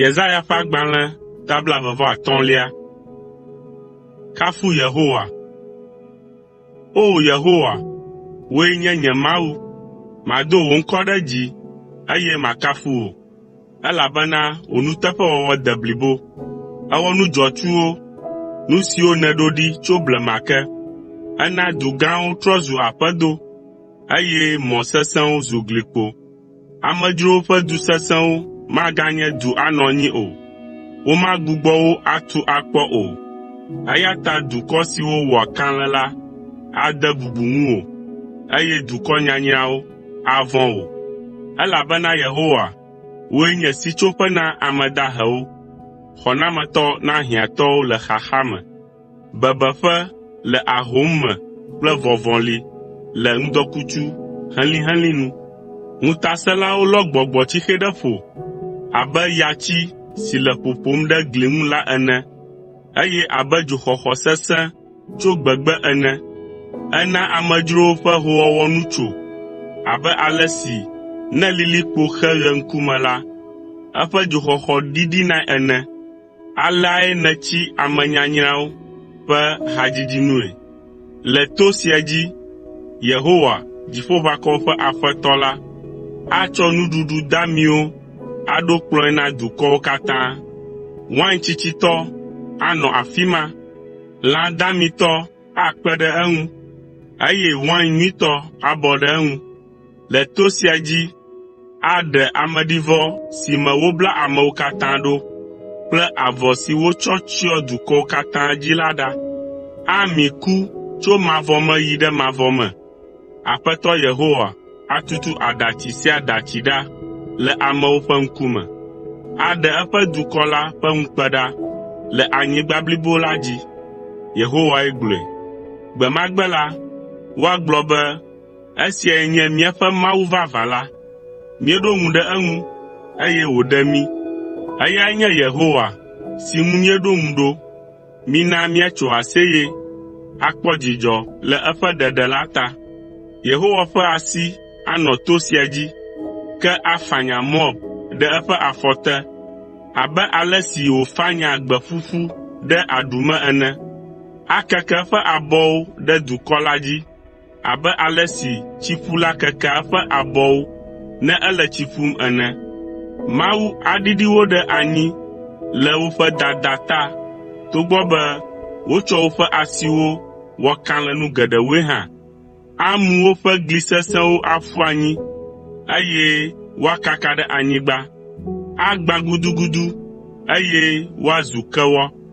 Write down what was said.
Yesaya ƒe agbalẽ ta blaeve vɔ atɔ̃lia. Kafu Yehowa. O Yehowa, wòe nye nye Mawu, mado wò ŋkɔ ɖe dzi, eye makafu wò, elabena wò nuteƒewɔwɔ de blibo. Èwɔ nu dzɔatsuwo, nu siwo nèɖo ɖi tso blema ke. Èna du gãwo trɔ zu aƒedo. eye mɔ sesẽwo zu glikpo. Amedzrowo ƒe du sesẽwo maganye du anɔ anyi o. Womagbugbɔ wo atu akpɔ o, eya ta dukɔ siwo wɔa kalẽ la ade bubu ŋuwò, eye dukɔ nyanyrawo avɔ̃ wò, elabena Yehowa, wòe nye sitsoƒe na ame dahewo, xɔnametɔ na hiãtɔwo le xaxa me. bebeƒe le ahom me kple vɔvɔli le ŋdɔkutsu helĩhelĩ nu. Ŋutasẽlawo lɔ gbɔgbɔtsixe ɖe ƒo abe yatsi si le ƒoƒom ɖe gli ŋu la ene, eye abe dzoxɔxɔ sesẽ tso gbegbe ene. Ena amedzrowo ƒe hoowɔwɔ nu tso abe ale si ne lilikpo xe ɣe ŋkume la, eƒe dzoxɔxɔ ɖiɖinae ene. Aleae nètsi ame nyanyrawo ƒe hadzidzi nue. Le to sia dzi Yehowa, Dziƒoʋakɔwo ƒe Aƒetɔ la, atsɔ nuɖuɖu damiwo aɖo kplɔ̃e na dukɔwo katã. Wain tsitsitɔ anɔ afi ma, lã damitɔ akpe ɖe eŋu, eye wain nyuitɔ abɔ ɖe eŋu. Le to sia dzi aɖe ameɖivɔ si me wobla amewo katã ɖo kple avɔ si wotsɔ tsyɔ dukɔwo katã dzi la ɖa. Ami ku tso mavɔ me yi ɖe mavɔ me. Aƒetɔ Yehowa atutu aɖatsi sia aɖatsi ɖa le amewo ƒe ŋkume. Aɖe eƒe dukɔ la ƒe ŋukpe ɖa le anyigba blibo la dzi. Yehowae gblɔe. Gbe ma gbe la, woagblɔ be, Esiae nye míaƒe Mawu vavã la. Míeɖo ŋu ɖe eŋu, eye wòɖe mí. Eyae nye Yehowa, si ŋu míeɖo ŋu ɖo. Mina míatso aseye, akpɔ dzidzɔ le eƒe ɖeɖe la ta. Yehowa ƒe asi anɔ to sia dzi, ke afanya Moab ɖe eƒe afɔ te, abe ale si wòfanyaa gbe ƒuƒu ɖe aɖu me ene. Akeke eƒe abɔwo ɖe dukɔ la dzi, abe ale si tsikula kekea eƒe abɔwo ne ele tsi ƒum ene. Mawu aɖiɖi wo ɖe anyi le woƒe dada ta togbɔ be wotsɔ woƒe asiwo wɔ kalẽnu geɖewoe hã. Amu woƒe gli sesẽwo aƒu anyi, eye woakaka ɖe anyigba. Agbã gudugudu, eye woazu kewɔ.